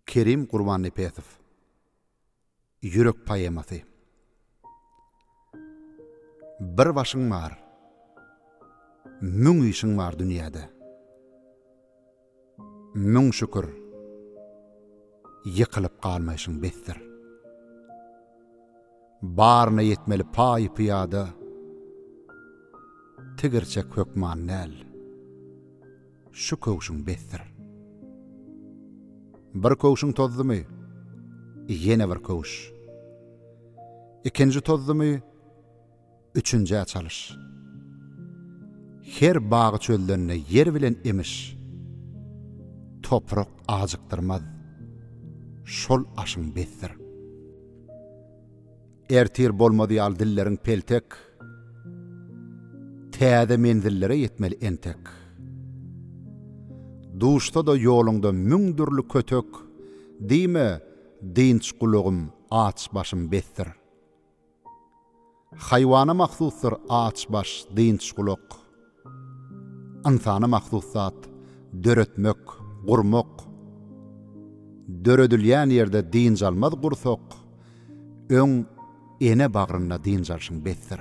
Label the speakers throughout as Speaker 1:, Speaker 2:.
Speaker 1: Kerim Gurbannepesow Ýürek poemasy Bir başyň bar, müň işiň bar dünýäde. Müň şükür, ýykylyp galmaýşyň besdir. Baryna ýetmeli paý-pyýada, tigirçek hökman däl, şu köwşüň besdir. Bir köwşüň tozdumy, ýene bir köwüş. Ikinji tozdumy, Üçünjä çalyş. Her bagy çöllende ýer bilen emiş. Toprak ajykdyrmaz. Şol aşyň besdir. Ertir bolmaz ýaly dilleriň peltek. Täze menzillere ýetmeli entek. Duşsa-da ýoluňda müň dürli kötek, Diýme, dynç gulagym, aç başym besdir. Haýwana mahsusdyr aç baş, dynç gulak. Ynsana mahsus zat, döretmek, gurmak. Döredilýän ýerde dynç almaz gursak, öň ene bagrynda dynç alşyň besdir.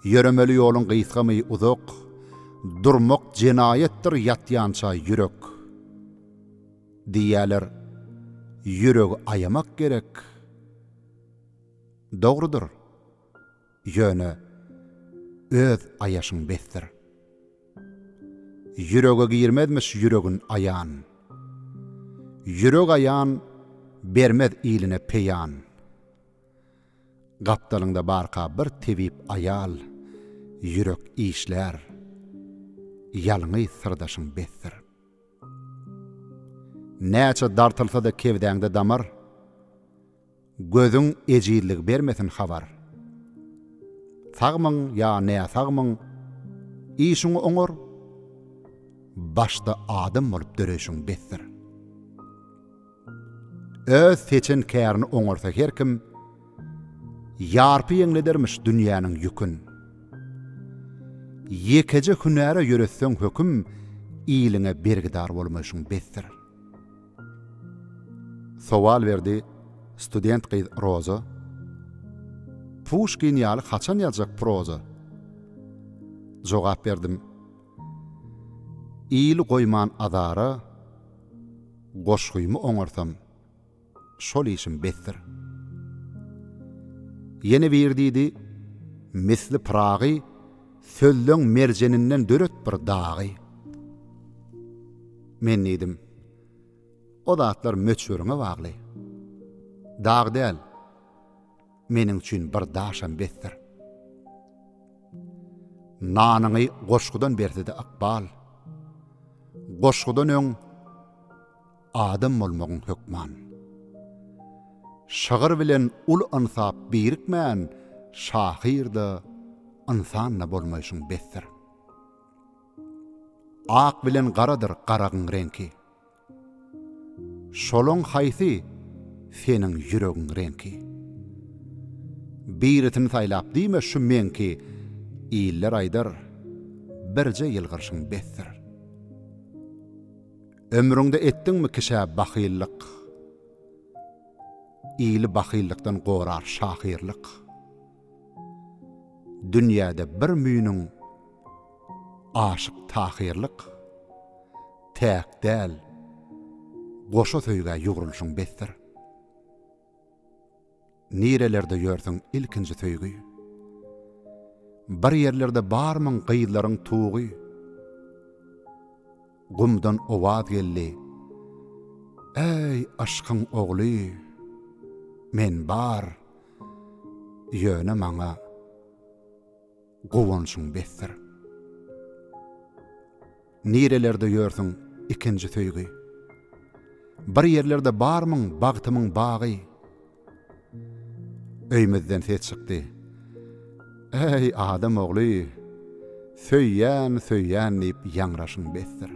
Speaker 1: Ýöremeli ýoluň gysgamy, uzak, durmak jenaýatdyr ýatýança ýürek. Diýýäler, Ýüregi aýamak gerek. Dogrudyr. Ýöne öz aýaşyň besdir. Ýürege girmezmiş ýüregin aýan. Ýürek aýan bermez iline peýan. Gapdalyňda barka bir tebip aýal, ýürek işlär. Ýalňyz syrdaşyň besdir. Näçe dartylsa-da kebdäňde damar, Gözüň ejizligi bermesin habar. Sagmyň ýa näsagmyň, işiň oňar, Başda adam bolup döreýşiň besdir. Öz seçen kärini oňarsa her kim, Ýarpy ýeňledermiş dünýäniň ýükün. Ýekeje hünäre ýöretseň höküm, Iliňe bergidar bolmaýşyň besdir. Sowal berdi student gyz Roza, Puşkin ýaly haçan ýazjak proza? Jogap berdim, Ili goýman azara, Goşgymy oňarsam, şol işim besdir. Ýene bir diýdi, Misli Pyragy sözleň merjeninden döret bir dagy. Men diýdim, O zatlar möçberiňe bagly. Dag däl. Meniň üçin bir daşam besdir. Nanyňy goşgudan bersede ykbal, Goşgudan öň adam bolmagyň hökman. Şygyr bilen uly ynsap birikmän, Şahyr-da, ynsan-da bolmaýşyň besdir. Ak bilen garadyr garagyň reňki, Şolaň haýsy seniň ýüregiň reňki? Birisini saýlap diýme şu meňki Iller aýdar, birje ýylgyrşyň besdir. Ömrüňde etdiňmi kişä bahyllyk? Ili bahyllykdan gorar şahyrlyk. Dünýäde bir müýnüň Aşyk tahyrlyk Täk däl Goşa söýgä ýugrulyşyň besdir Nirelerde ýörsüň ilkinji söýgi Bir ýerlerde barmyň gyzlaryň tugy. Gumdan owaz geldi. Äý, aşkyň ogly, men bar, ýöne maňa guwançyň besdir. Nirelerde ýörsüň, ikinji söýgi? Bir ýerlerde barmyň, bagtymyň bagy? Öýümizden ses çykdy. Äý, adam ogly, söýýän, söýýän diýip ýaňraşyň besdir.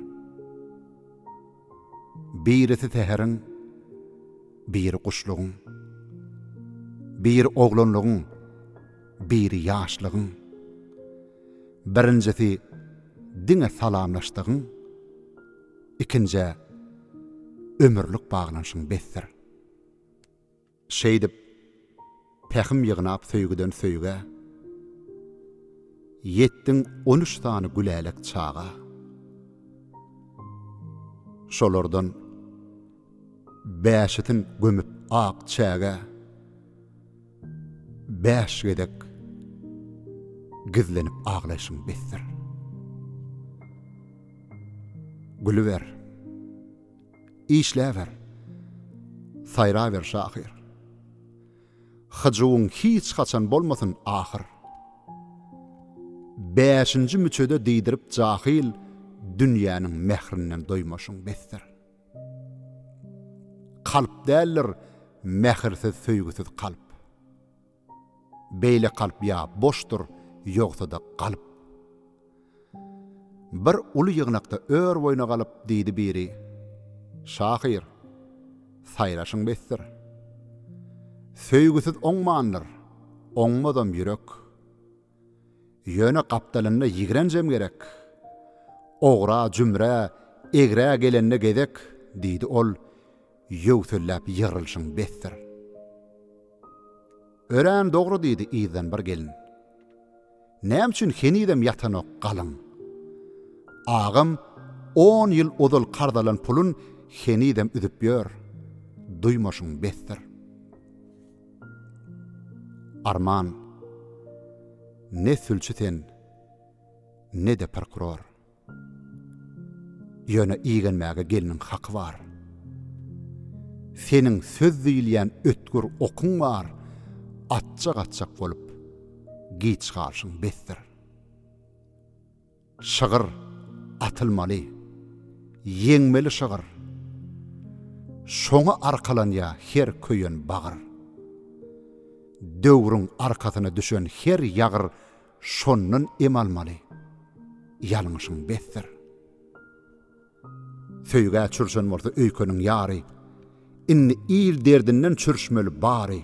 Speaker 1: Birisi säheriň, biri guşlugyň, biri oglanlygyň, biri ýaşlygyň, birinjisi diňe salamlaşdygyň, ikinjä ömürlik baglanyşyň besdir. Şeýdip, pähim ýygnap söýgüden söýgä, Ýetdiň on üç sany gülälek çaga. Şolardan bäşisin gömüp ak çägä, Bäş gezek gizlenip aglaýşyň besdir. Gülüber. Işläber, saýraber şahyr. Hyjuwyň hiç haçan bolmasyn ahyr. Bäşinji müçede diýdirip jahyl Dünýäniň mährinden doýmaşyň besdir. Kalp däldir, mähirsiz-söýgüsiz kalp. Beýle kalp ýa boşdur, ýogsa-da galp. Bir uly ýygnakda ör boýuna galyp, diýdi biri, Şahyr, saýraşyň besdir. Söýgüsiz oňmandyr, oňmazam ýürek. Ýöne gapdalynda ýigrenjem gerek. Ogra, jümrä, egrä gelende gezek, diýdi ol, ýöwselläp ýygrylyşyň besdir. Örän dogry, diýdi yzdan bir gelin. Näme üçin henizem ýatanok galyň? Agam on ýyl ozal karz alan pulun henizem üzüp ýör, duýmaşyň besdir. Arman, ne sülçi sen, ne-de prokuror. Ýöne igenmäge gelniň haky bar. Seniň söz diýilýän ötgür okuň bar, atjak-atjak bolup, giç galşyň besdir. Şygyr atylmaly. Ýeňmeli şygyr. Şoňa arkalanýar her köýen bagyr. Döwrüň arkasyna düşen her ýagyr şondan em almaly. Ýalňyşyň besdir. Söýgä çürşen bolsa öýkeniň ýary, Indi il derdinden çürşmeli bary.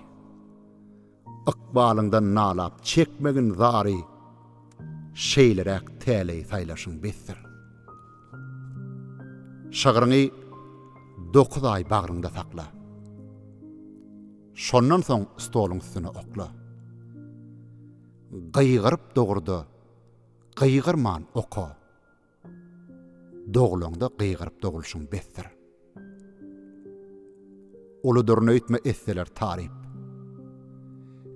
Speaker 1: Ykbalyňdan nalap çekmegin zary, Şeýleräk täleý saýlaşyň besdir. Şygryňy dokuz aý bagryňda sakla, Şondan soň stoluň üstüne okla. Gygyryp dogurda, gygyrman oka. Doglaňda gygyryp dogulşyň besdir. Uludyr nöýtme etseler taryp.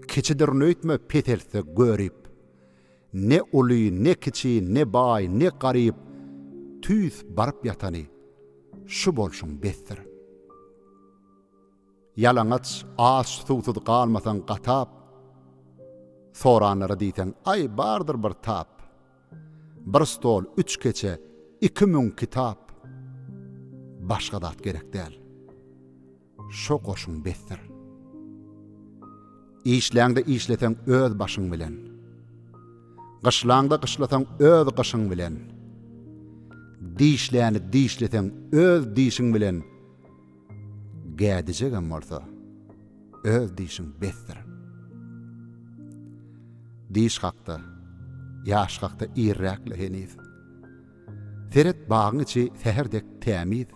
Speaker 1: Kiçidir nöýtme peseltse görip. Ne uly, ne kiçi, ne baý, ne garyp, tüýs baryp ýatany şu bolşuň besdir. Ýalaňaç, aç, suwsuz galmasaň gatap. Soranlara diýseň, aý, bardyr bir tap. Bir stol, üç keçe, iki müň kitap. Başga zat gerek däl. Şo goşun besdir. Işläňde işleseň öz başyň bilen. Gyşlaňda gyşlasaň öz gyşyň bilen. Dişläni dişleseň öz dişiň bilen. Gädijegem bolsa, öz dişiň besdir. Diş hakda, ýaş hakda irräk-le heniz. Seret, bagyň içi säher dek tämiz.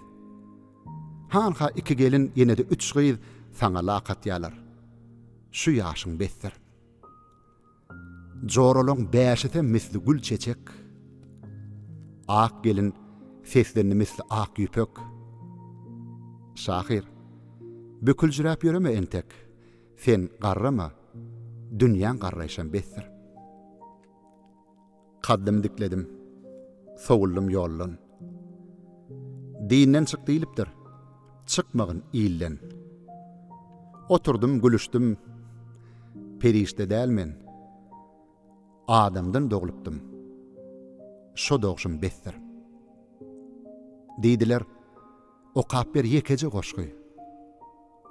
Speaker 1: Hanha iki gelin, ýene-de üç gyz saňa lak atýarlar. Şu ýaşyň besdir. Joralaň bäşisem misli gül çeçek, Ak gelin seslendi misli ak ýüpek. Şahyr, büküljräp ýöreme entek, Sen garrama, dünýäň garraýşam besdir. Kaddym dikledim. Sowuldym ýoldan. Dinden çyk diýlipdir. Çykmagyn ilden. Oturdym gülüşdim. Perişde däl men. Adamdan doglupdym. Şo dogşum besdir. Diýdiler, Okap ber ýekeje goşgy.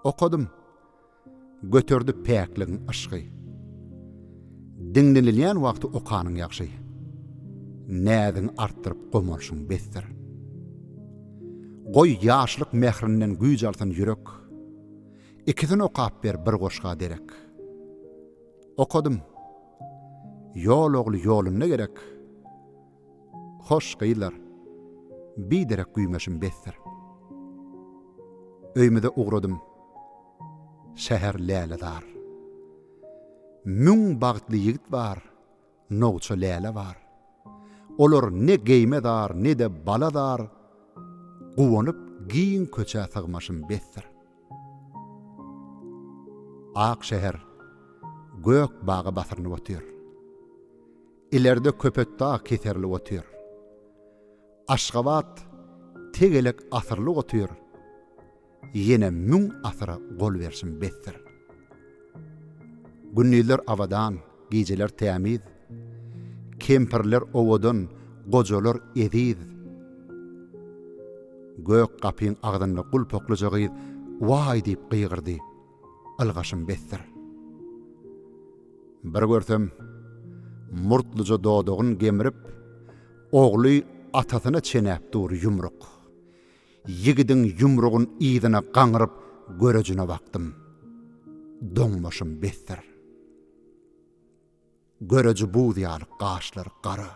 Speaker 1: Okadym. Göterdi päkligiň yşgy. Diňlenilýän wagty okanyň ýagşy. Näziň artdyryp gomalşyň besdir. Goý, ýaşlyk mährinden güýç alsyn ýürek. Ikisin okap ber bir goşga derek. Okadym. Ýol ogly ýolunda gerek. Hoş, gyzlar. Biderek güýmeşim besdir. Öýümize ugradym. Şäher lälezar. Müň bagtly ýigit bar, nowça läle bar. Olar ne geýime zar, ne-de bala zar, guwanyp giň köçä sygmaşym besdir. Ak şäher gök baga basyrynyp otyr. Ilerde Köpetdag keserli otyr. Aşgabat tegelek asyrly otyr, Ýene müň asyra gol berşim besdir. Gündizler abadan, gijeler tämiz, Kempirler owadan, gojalar eziz. Gök gapyň agzynda gulpaklyja gyz Waý diýip gygyrdy. ylgaşym besdir. Bir görsem, murtluja dodagyn gemrip, ogly atasyna çenäp dur ýumruk. Ýigidiň ýumrugyn yzyna gaňryp görejine bakdym. Doňmaşym besdir. Göreji buz ýaly gaşlary gara,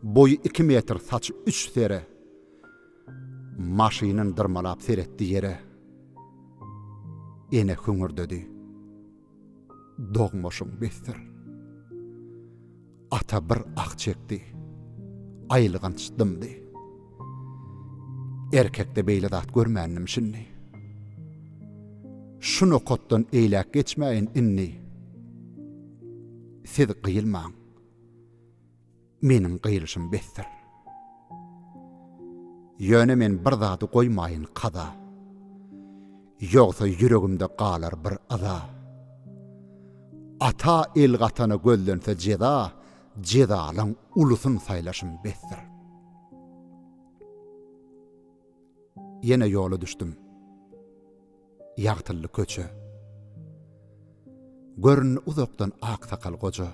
Speaker 1: boýy iki metr saçy üç sere, maşynyn dyrmalap seretdi ýere. Ene hüňürdedi. Dogmaşyň besdir. Ata bir ah çekdi. Aýylganç dymdy. Erkekde beýle zat görmändim şindi. Şu nokatdan eýläk geçmäýin indi. Siz gyýylmaň. Meniň gyýylşym besdir. Ýöne men bir zady goýmaýyn kaza. Ýogsa ýüregimde galar bir yza. Ata el gatana gözlense jeza, Jezalyň ulusyn saýlaşym besdir. Ýene ýola düşdüm. Ýagtyldy köçe. Göründi uzakdan aksakal goja.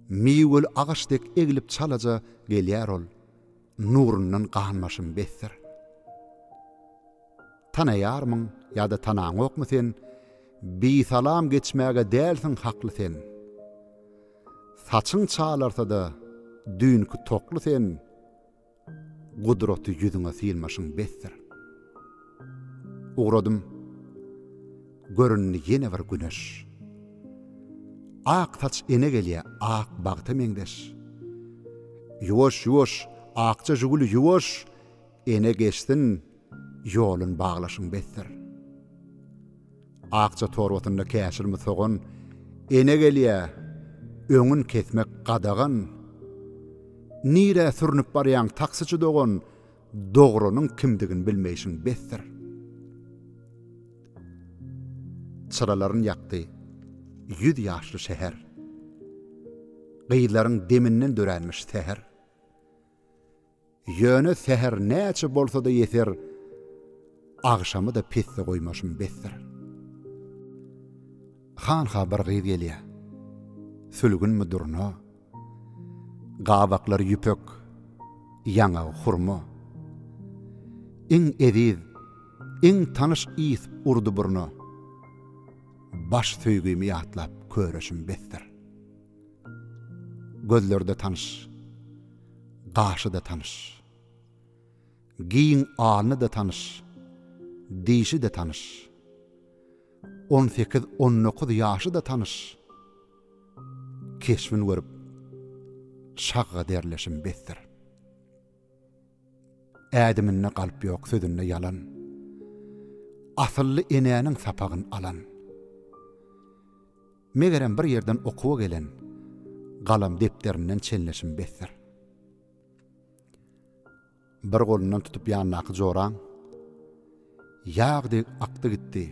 Speaker 1: Miweli agaç dek eglip çalaja gelýär ol. nurundan ganbaşym besdir. Tanaýarmyň ýa-da tanaňokmy sen, bisalam geçmäge dälsiň hakly sen. Saçyň çalarsa-da düýnki tokly sen, gudraty ýüzüňe synmaşym besdir. Ugradym. Göründi ýene bir güneş. Ak saç ene gelýä ak bagta meňzeş. Ýuwaş ýuwaş akja žuguli ýuwaş ene geçsin ýolun baglaşyň besdir. Akja torbasynda käşirmi sogan ene gelýä öňün kesmek gadagan. Nirä sürnüp barýaň taksiçi dogan Dogrynyň kimdigini bilmeýşiň besdir. Çyralaryn ýakdy ýüz ýaşly şäher. Gyzlaryň deminden döränmiş säher. Ýöne säher näçe bolsa-da ýeser, agşamy-da pesde goýmaşym besdir. Hanha bir gyz gelýär. Sülgünmi durna. Gabaklary ýüpek, ýaňagy hurma. Iň eziz, iň tanyş ys urdy burna. Baş söýgimi ýatlap köreşim besdir. Gözlerde tanyş, gaşy-da tanyş. Giň alny-da tanyş, dişi-de tanyş. On sekiz-on dokuz ýaşy-da tanyş. keşbin görüp şagga derleşim besdir. Ädiminde galp ýok sözünde ýalan, asylly enäniň sapagyn alan. Megerem bir ýerden okuwa gelen, galam depderinden çenleşim besdir. Bir golundan tutup ýandaky joram, Ýag dek akdy gitdi,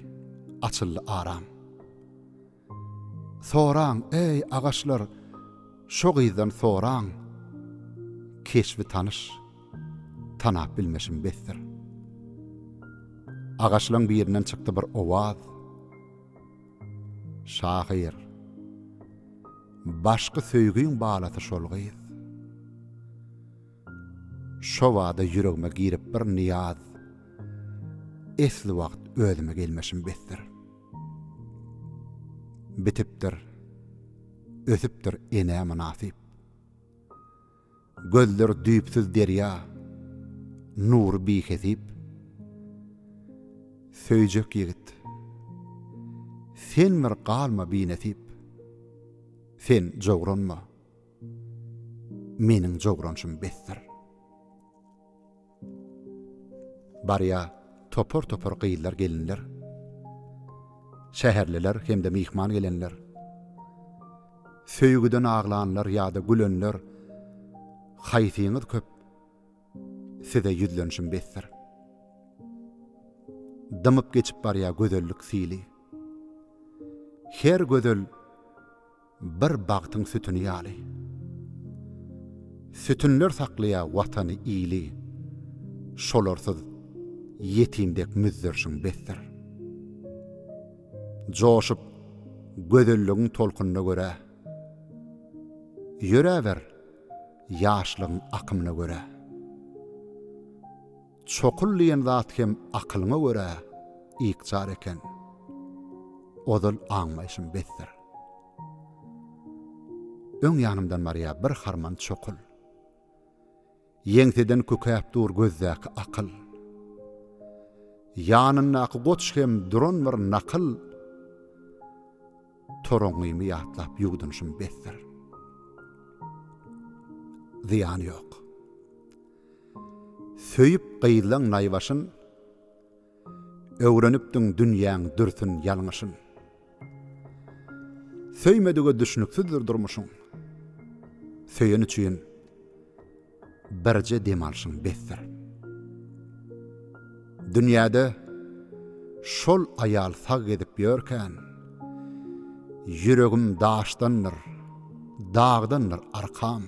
Speaker 1: açyldy aram. Soraň, eý, agaçlar, şo gyzdan soraň, Keşbi tanyş, tanap bilmeşim besdir. Agaçlaň birinden çykdy bir owaz, Şahyr, başky söýgiň balasy şol gyz. Şo bada ýüregime girip bir nyýaz, Esli wagt özüme gelmişim besdir. Bitipdir, ötüpdir enä mynasyp. Gözler düýpsüz derýa, nury bihesip. Söýjek ýigit, sen bir galma binesip. Sen jowranma. Meniň jogranşym besdir. Barýa topar-topar gyzlar-gelinler. Şäherliler hem-de myhman gelenler. Söýgüden aglanlar ýa-da gülenler, haýsyňyz köp, size ýüzlenişim besdir. Dymyp geçip barýa gözellik sili. Her gözel. Bir bagtyň sütüni ýaly. Sütünler saklaýa watany ili, Şolarsyz ýetim dek müzzerşiň besdir. Joşup gözelligiň tolkunyna görä, Ýöräber ýaşlygyň akymyna görä. Çokul diýen zat hem akylyňa görä ykjar eken. Ozal aňmaýşym besdir. Öň ýanymdan barýa bir harman çokul. Ýeňseden kükäp dur gözdäki akyl. Ýanyndaky goç hem duran bir nakyl. Toraňňymy ýatlap ýuwdunşym besdir. Zyýany ýok. Söýüp gyýlaň naýbaşyn, Öwrenipdiň dünýäň dürsün ýalňyşyn. Söýmedige düşnüksizdir durmuşyň, Söýen üçin birje dem alşyň besdir. Dünýäde şol aýal sag gezip ýörkän, Ýüregim daşdandyr, dagdandyr arkam.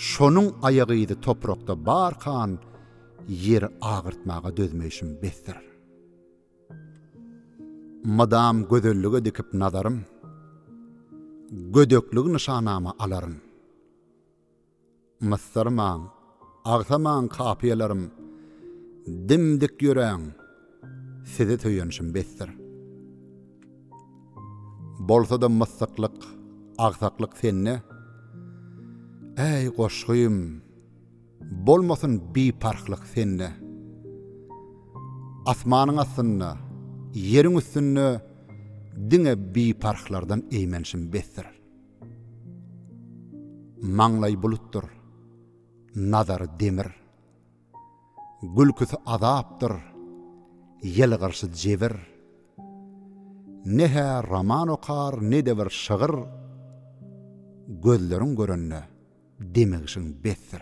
Speaker 1: Şonuň aýagy yzy toprakda barkan ýeri agyrtmaga dözmeýşim besdir. Mydam gözellige dikip nazarym, gödekligi nyşanama alaryn. Mysyrmaň, agsaman kapiýalarym, dim-dik ýöräň, Size söýenşim besdir. Bolsa-da myssyklyk, agsaklyk sende. Äý, goşgym, bolmasyn biparhlyk sende. Asmanyň astynda, ýeriň üstünde diňe biparhlardan eýmenşim besdir. Maňlaý bulutdyr, nazary demir. Gülküsi azapdyr, ýylgyryşy jebir. Ne-hä roman okar, ne-de bir şygyr, Gözleriň görende, demigşiň besdir.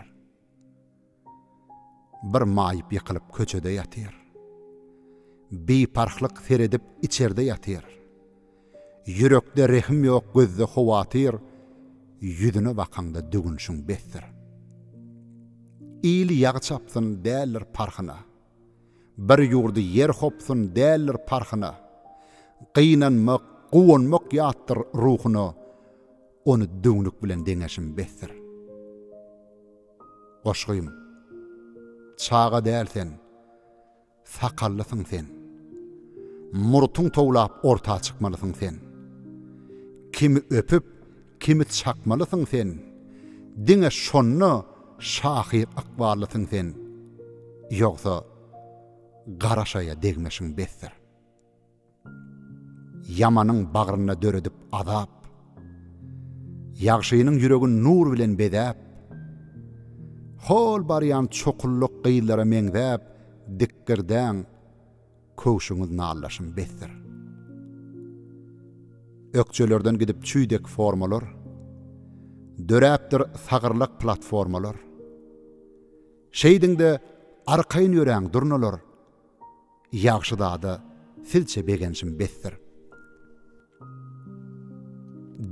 Speaker 1: Bir maýyp ýykylyp köçede ýatyr. Biparhlyk seredip içerde ýatyr. Ýürekde rehim ýok gözde howatyr Ýüzüne bakaňda dögünşiň besdir Il ýag çapsyn däldir parhyna Bir ýurdy ýer hopsun däldir parhyna Gynanmak guwanmak ýatdyr ruhuna Ony döwnük bilen deňeşim besdir Goşgym Çaga däl sen Sakallysyň sen. Murtuň towlap orta çykmalysyň sen. Kimi öpüp, kimi çakmalysyň sen. Diňe şonda şahyr ykballysyň sen. Ýogsa, garaşaýa degmeşiň besdir. Ýamanyň bagrynda döredip azap, Ýagşynyň ýüregin nur bilen bezäp, Hol barýan çokulluk gyzlara meňzäp Dikgirdäň, köwşüňiz nallaşym besdir. Ökjelerden gidip çüý dek formalar, Döräpdir sagyrlak platformalar. Şeýdiň-de, arkaýyn ýöräň, durnalar! Ýagşy zada silçe begenşim besdir.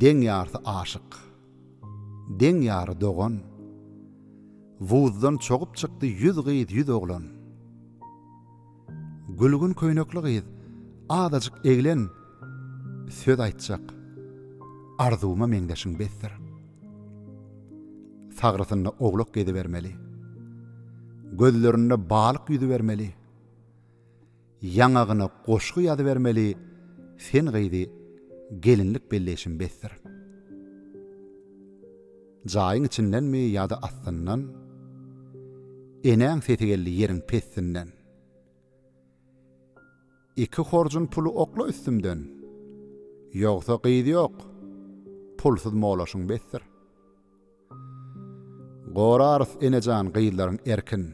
Speaker 1: Deň ýarsy aşyk. Deň ýary dogan. Wuzdan çogup çykdy ýüz gyz ýüz oglan. Gülgün köýnekli gyz azajyk eglen söz aýtjak arzuwma meňzeşiň besdir. Sagrysynda owlak gezibermeli. Gözlerinde balyk ýüzübermeli. Ýaňagyna goşgy ýazybermeli Sen gyzy gelinlik belleýşim besdir. Jaýyň içindenmi ýa-da astyndan Enäň sesi geldi ýeriň pestinden. Iki horjun puly okla üstümden Ýogsa gyz ýok pulsuz molaşyň besdir. Gorarys enejan gyzlaryň erkin.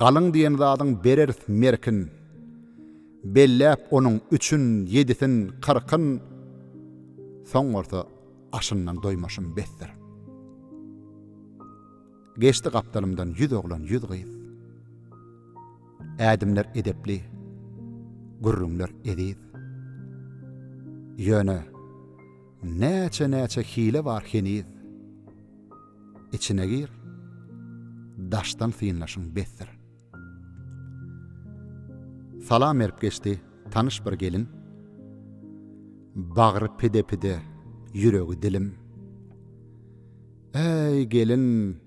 Speaker 1: Galyň diýen zadyň bereris merkin, Belläp onuň üçün, ýedisin, kyrkyn, Soň bolsa aşyndan doýmaşym besdir. Geçdi gapdalymdan ýüz oglan, ýüz gyz, Ädimler edepli, gürrüňler eziz. Ýöne, näçe-näçe hile bar heniz. içine gir, daşdan synlaşyň besdir. Salam berip geçdi tanyş bir gelin, Bagry pide-pide, ýüregi dilim. Äý, gelin,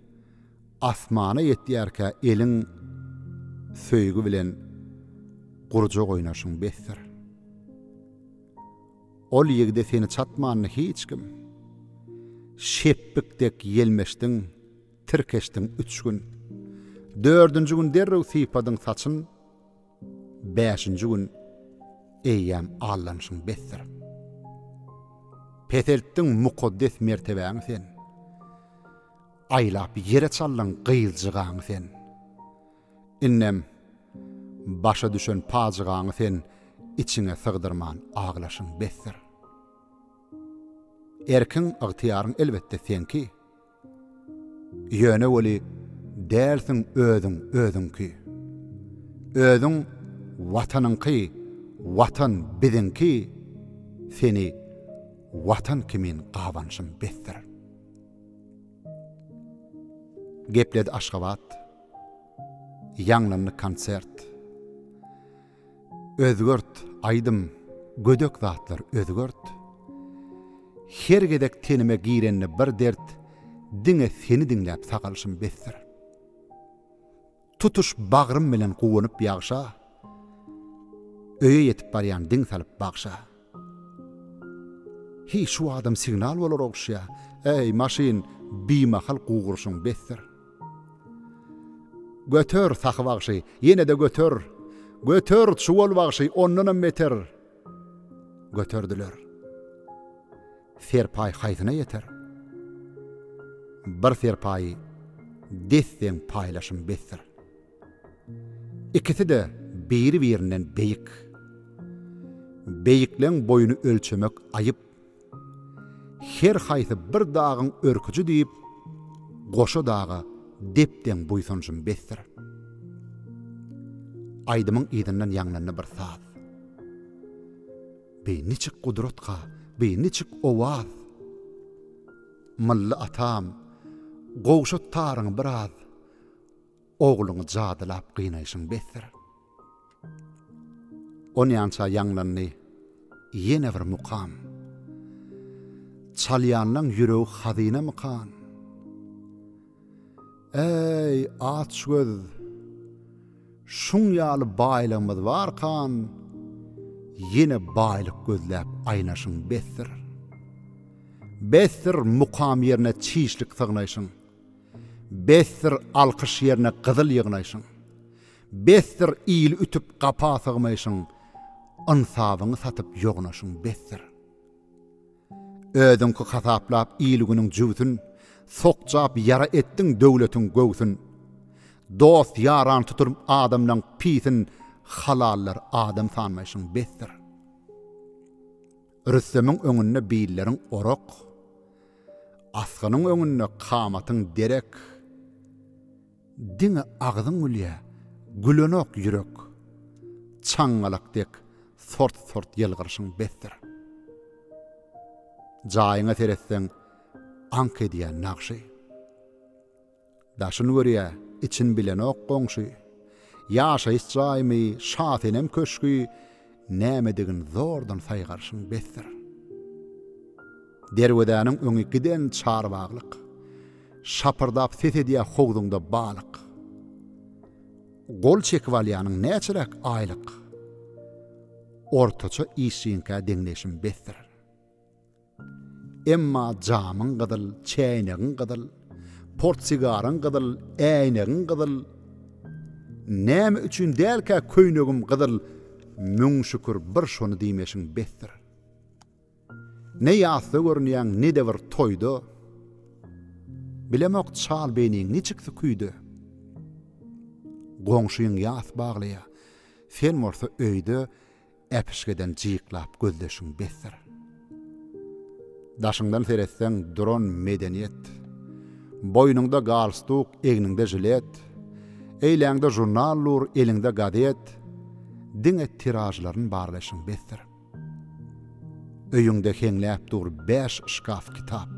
Speaker 1: asmana ýetýärkä eliň Söýgi bilen gurjak oýnaşyň besdir. Ol ýigide seni çatmandy hiç kim. Şepbik dek ýelmeşdiň, tirkeşdiň üç gün. Dördünji gün derrew sypadyň saçyn, Bäşinji gün eýýäm aldanşyň besdir. Peseltdiň mukaddes mertebäňi sen, Aýlap ýere çaldyň gyzjygaňy sen. Indem, başa düşen pajygaňy sen içiňe sygdyrman aglaşyň besdir. Erkiň, ygtyýaryň elbetde seňki. Ýöne weli dälsiň özüň özüňki. Özüň Watanyňky, Watan biziňki, seni Watan kimin gabanşym besdir. Gepledi Aşgabat. Ýaňlandy konsert. Özgert, aýdym, gödek zatlar özgert. Her gezek tenime girende bir dert, diňe seni diňläp sagalşym besdir. Tutuş bagrym bilen guwanyp ýagşa, öýe ýetip barýan diň salyp bagşa. Heý, şu adam signal bolar ogşýar. Äý, maşyn, bimahal gugurşyň besdir. Göter, Sahy bagşy, ýene-de göter! Göter, Çuwal bagşy, ondanam beter! Göterdiler. Serpaý haýsyna ýeter? Bir serpaýy des-deň paýlaşym besdir. Ikisi-de biri-birinden beýik. Beýikleň boýuny ölçemek aýyp. Her haýsy bir dagyň örküji diýip, goşa daga dep-deň buýsanjym besdir. Aýdymyň yzyndan ýaňlandy bir saz. Beý niçik gudratga, beý niçik owaz! Mylly atam, gowşat taryňy biraz. Ogluňy jadylap gynaýşyň besdir. Onýança ýaňlandy ýene bir mukam. Çalýanlaň ýüregi hazynamykan? Äý, açgöz! Şuň ýaly baýlygymyz barkan, ýene baýlyk gözläp aýnaşyň besdir. Besdir, mukam ýerine çişlik sygnaýşyň. Besdir alkyş ýerine gyzyl ýygnaýşyň. Besdir il ütüp gapa sygmaýşyň, ynsabyňy satyp ýognaşyň, besdir. Özüňki hasaplap il-günüň jübsün, sokjap ýara etdiň döwletiň göwsün. Dost ýarany tutup adamlaň pisin, halallar adam sanmaýşyň, besdir. Rüstemiň öňünde billeriň orak, Asgynyň öňünde kamatyň derek. Diňe agzyň gülýä, gülenok ýürek, Çaňňalak dek sort-sort ýylgyryşyň besdir. Jaýyňa seretseň, aňk edýä nagşy. Daşyn görýä, için bilenok goňşy. Ýaşaýyş jaýmy, Şasenem köşgi, Nämedigin zordan saýgarşyň besdir. Derwezäniň öňi giden çarbaglyk, Şapyrdap ses edýä howzuňda balyk. Gol çekip alýanyň näçeräk aýlyk? Ortaça işçiňkä deňleýşim besdir. Emma jamyň gyzyl, çäýnegiň gyzyl, portsigaryň gyzyl, äýnegiň gyzyl, näme üçin dälkä köýnegim gyzyl, müň şükür bir şony diýmeşiň besdir. Ne ýasda görünýäň, ne-de bir toýda. Bilemok çal beýniň niçik süküýde. Goňşyň ýas baglaýa, sen bolsa öýde, Äpişgeden jyklap gözleşiň besdir. Daşyňdan seretseň duran medeniýet. Boýnuňda galstuk, egniňde žilet, Eýläňde žurnal dur, eliňde gazet, Diňe tiražlaryn barlaşyň besdir. Öýüňde heňläp dur bäş şkaf kitap,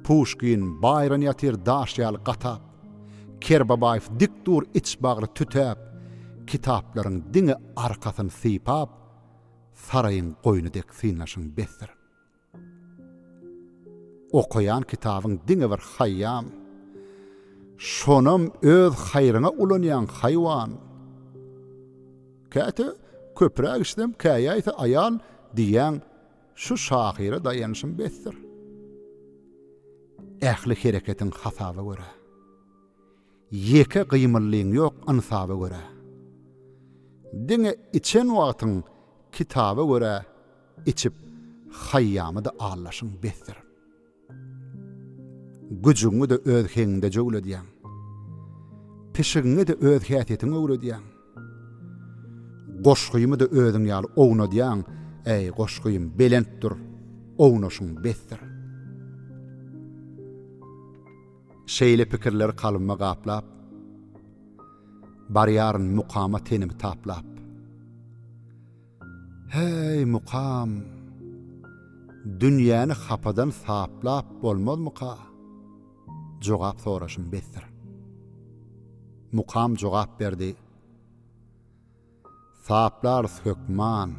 Speaker 1: Puşkin, Baýron ýatyr daş ýaly gatap, Kerbabaýew dik dur iç bagry tütäp, kitaplaryň diňe arkasyny sypap, saraýyň goýny dek synlaşyň besdir. Okaýan kitabyň diňe bir haýýam. Şonam öz haýryňa ulanýaň, haýwan. Käte köpräk içsem, käýäýse aýal diýýäň. Şu şahyra daýanyşym besdir. Ähli hereketiň hasaba görä. Ýeke gymyllyň ýok ynsaba görä. Diňe içen wagtyň kitaba görä içip haýýamy-da aldaşyň besdir. Güjüňi-de öz heňiňde jöwledýäň. Pişigiňi-de öz häsiýetiňe öwredýäň. Goşgymy-da özüň ýaly ownadýaň, äý, goşgym, belent dur, ownaşyň besdir. Şeýle pikirler kalbymy gaplap, Barýaryn mukama tenimi taplap. Häý, mukam! Dünýäni hapadan saplap bolmazmyka? Jogap soraşym besdir. Mukam jogap berdi. Saplarys, hökman.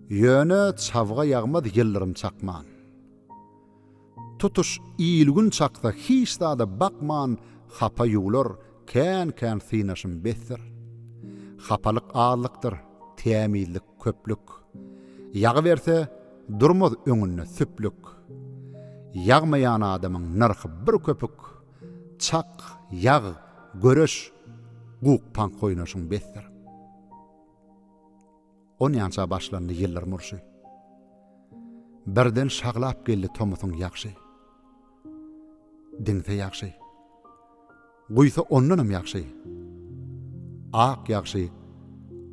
Speaker 1: Ýöne çabga ýagmaz ýyldyrym çakman. Tutuş il-gün çaksa hiç zada bakman hapa ýuwlar, kän-kän synaşym besdir. Hapalyk azlykdyr, tämizlik köplük. Ýagyberse, durmaz öňünde süplük. Ýagmaýan adamyň nyrhy bir köpük. Çak, ýag, göreş, guk-pank oýnaşyň besdir. Onýança başlandy ýyllaryň urşy. Birden şaglap geldi tomusyň ýagşy. Diňse ýagşy. Guýsa ondanam ýagşy. Ak ýagşy,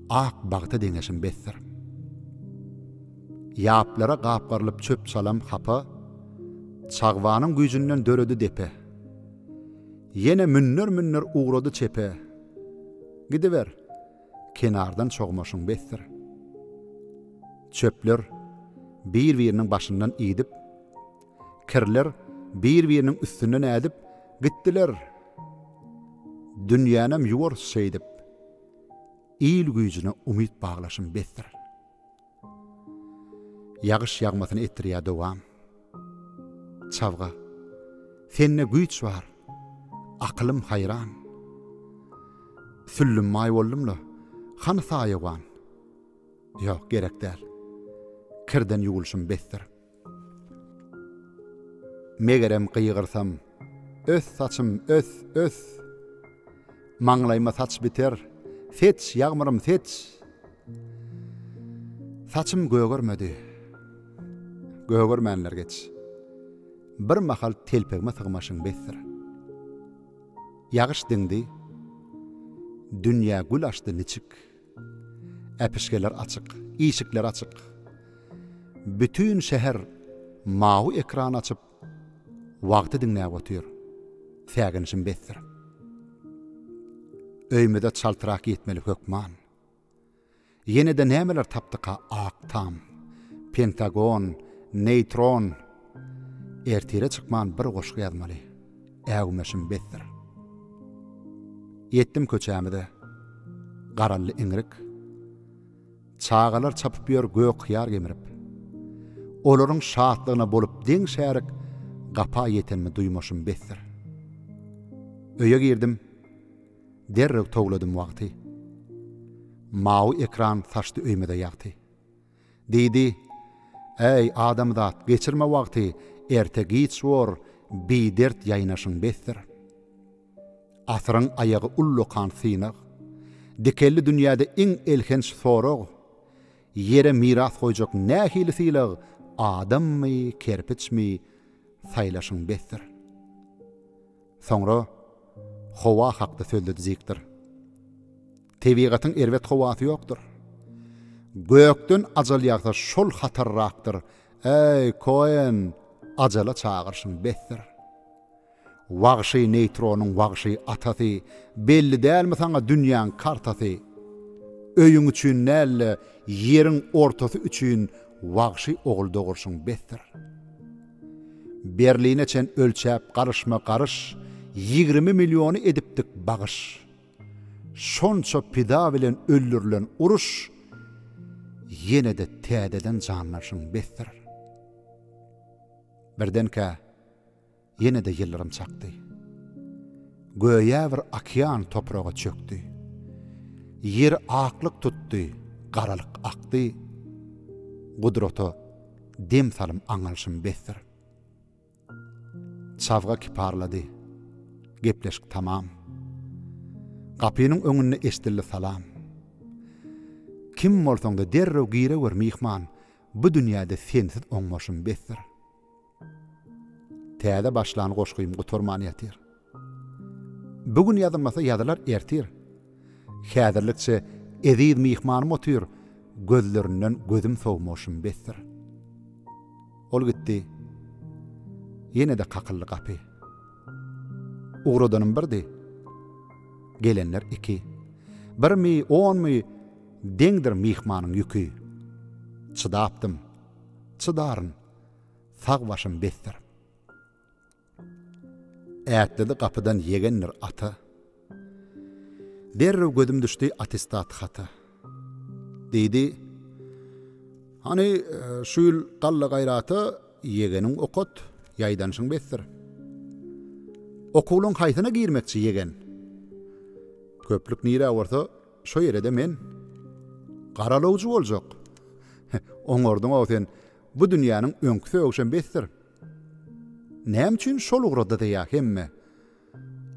Speaker 1: ak bagta deňeşim besdir. Ýaplara gapgarylyp çöp-çalam hapa, Çagbanyň güýjünden döredi depe. Ýene münler-münler ugrady çepe. Gidiber! kenardan çogmaşyň besdir. Çöpler bir-biriniň başyndan idip, kirler bir-biriniň üstünden ädip gitdiler. Dünýänem ýuwarys şeýdip, il güýjüne umyt baglaşym besdir. Ýagyş ýagmasyny etdirýär dowam. Çabga, sende güýç bar, akylym haýran. Süllüm maý boldum-la, hany saýawan? Ýok, gerek däl. Kirden ýuwulşym besdir. Megerem gygyrsam, Ös saçym, ös, ös! Maňlaýyma saç biter, Seç, ýagmyrym, seç! Saçym gögermedi. Gögermänler geç. Bir mahal telpegime sygmaşyn besdir. Ýagyş diňdi. Dünýä gül açdy niçik? Äpişgeler açyk, işikler açyk. Bütin şäher mawy ekran açyp, wagty diňläp otyr. Säginişim besdir. Öýümize çaltrak ýetmeli hökman. Ýene-de nämeler tapdyka ak tam, pentagon, neýtron, Ertire çykman bir goşgy ýazmaly. Äwmeşim besdir. Ýetdim köçämize. Garaldy iňrik. Çagalar çapyp ýör gök hyýar gemirip. Olaryň şatlygyna bolup deň şärik gapa ýetenimi duýmaşym besdir. Öýe girdim. Derrew towladym wagty. Mawy ekran saçdy öýmede ýagty. Diýdi, Äý, adamzat, geçirme wagty, erte-giç bor, bidert ýaýnaşyň besdir. Asyryň aýagy ullakan synag, dikelli dünýäde iň elhenç sorag, Ýere miras goýjak nähili sylag, adammy, kerpiçmi, saýlaşyň besdir. Soňra howa hakda sözledi Zikdir. Tebigatyň erbet howasy ýokdur. Gökden ajal ýagsa şol hatarrakdyr, Äý, Koen, ajala çagyrşyň besdir. Wagşy neýtronyň wagşy atasy, Belli dälmi saňa dünýäň kartasy? Öýüň üçin däl-de, ýeriň ortasy üçin Wagşy ogul dogurşyň besdir. Berline çen ölçäp garyşma garyş, Ýigrimi milliony edipdik bagyş. Şonça pida bilen öldürilen uruş ýene-de täzeden janlanşyň besdir. Birdenkä, ýene-de ýyldyrym çakdy. Göýä bir okean topraga çökdi. Ýer aklyk tutdy, garalyk akdy. Gudrata dem salym aňalşym besdir. Çabga kiparlady. Gepleşik tamam. Gapynyň öňünde eşdildi salam. Kim bolsaň-da derrew girewer myhman, bu dünýäde sensiz oňmaşym besdir. Täze başlan goşgym gutarman ýatyr. Bu gün ýazylmasa ýazylar ertir. Häzirlikçe eziz myhmanym otyr, gözlerinden gözüm sowmuşym besdir. Ol gitdi. Ýene-de kakyldy gapy. Ugradanym birdi. Gelenler iki. Birmi, onmy, deňdir myhmanyň ýüki. Çydapdym. Çydaryn. Sag başym besdir. Ätledi gapydan ýegendir ata. Derrew gözüm düşdi attestat hata. Diýdi, Hany, şu ýyl galla gaýrata ýegeniň okat, ýaýdanyşyň besdir. Okuwlaň haýsyna girmekçi ýegen? Köplük nirä bolsa, şo ýere-de men. Garalawjy boljak. Oňardyň-ow sen, bu dünýäniň öňki sögüşem besdir. Näme üçin şol ugrady-da-ýa hemme?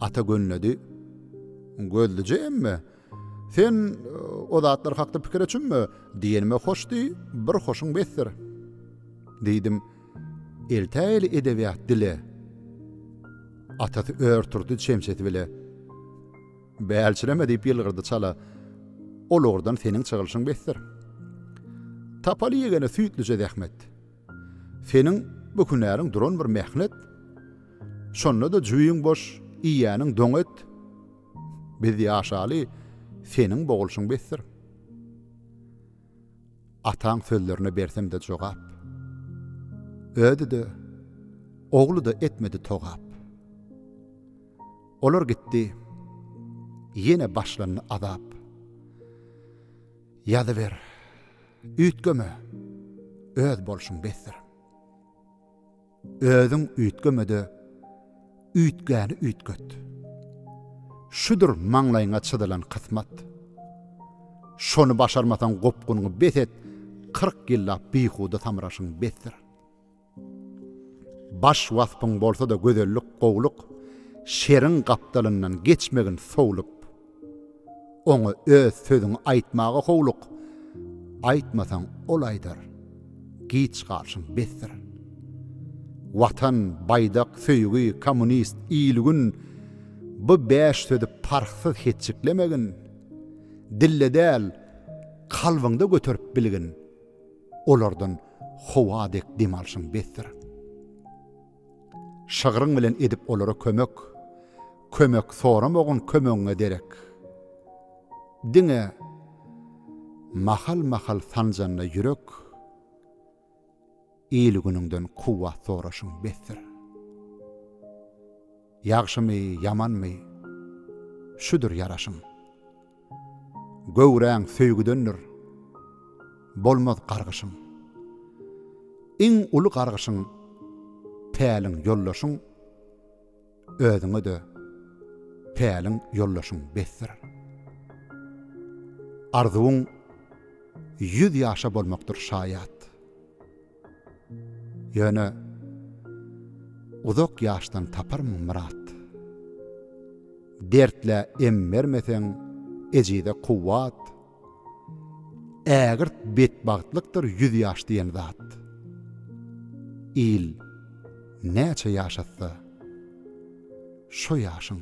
Speaker 1: Ata gönledi. Gözlüje emme. Sen o zatlar hakda pikir etjüňmi? Diýenime hoş diý, bir hoşuň besdir. Diýdim. Eltä-eli edebiýat dile. Atasy ör turdy çemçesi bile. Bälçireme diýip ýylgyrdy çala. Ol ugurdan seniň çygylyşyň besdir. Tapaly ýegene süýtlüje zähmet. Seniň bu hünäriň duran bir mähnet. Şonda-da jübiň boş, iýýäniň doň et. Biz ýaşaly, seniň boglşuň besdir. Ataň sözlerine bersem-de jogap. Özi-de, ogly-da etmedi togap. Olar gitdi, ýene başlandy azap. Ýazyber, üýtgeme, öz bolşuň besdir. Özüň üýtgeme-de, üýtgäni üýtget. Şudur maňlaýyňa çyzylan kysmat. Şony başarmasaň gopgunyňy bes et, kyrk ýyllap bihuda samraşyň besdir. Baş waspyň bolsa-da gözellik, gowluk, Şeriň gapdalyndan geçmegin sowlup. Oňa öz sözüňi aýtmaga howluk, Aýtmasaň, ol aýdar, giç galşyň besdir. Watan, baýdak, söýgi, kommunist, il-gün, Bu bäş sözi parhsyz hetjiklemegin, Dilde däl, kalbyňda göterip bilgin. olardan howa dek dem alşyň besdir. Şygryň bilen edip olara kömek, kömek soramagyn kömegiňe derek. Diňe mahal-mahal sanjanda ýürek, il-günüňden kuwwat soraşyň besdir. Ýagşymy, ýamanmy, şudur ýaraşyň. Göwräň söýgüdendir, bolmaz gargyşyň. Iň uly gargyşyň, päliň ýoldaşyň, özüňe-de päliň ýoldaşyň besdir. Arzuwyň ýüz ýaşa bolmakdyr şaýat. Ýöne uzak ýaşdan taparmyň myrat. Dertlä em bermeseň, ejize kuwwat. Ägirt betbagtlykdyr ýüz ýaş diýen zat. Il näçe ýaşatsa, şo ýaşyň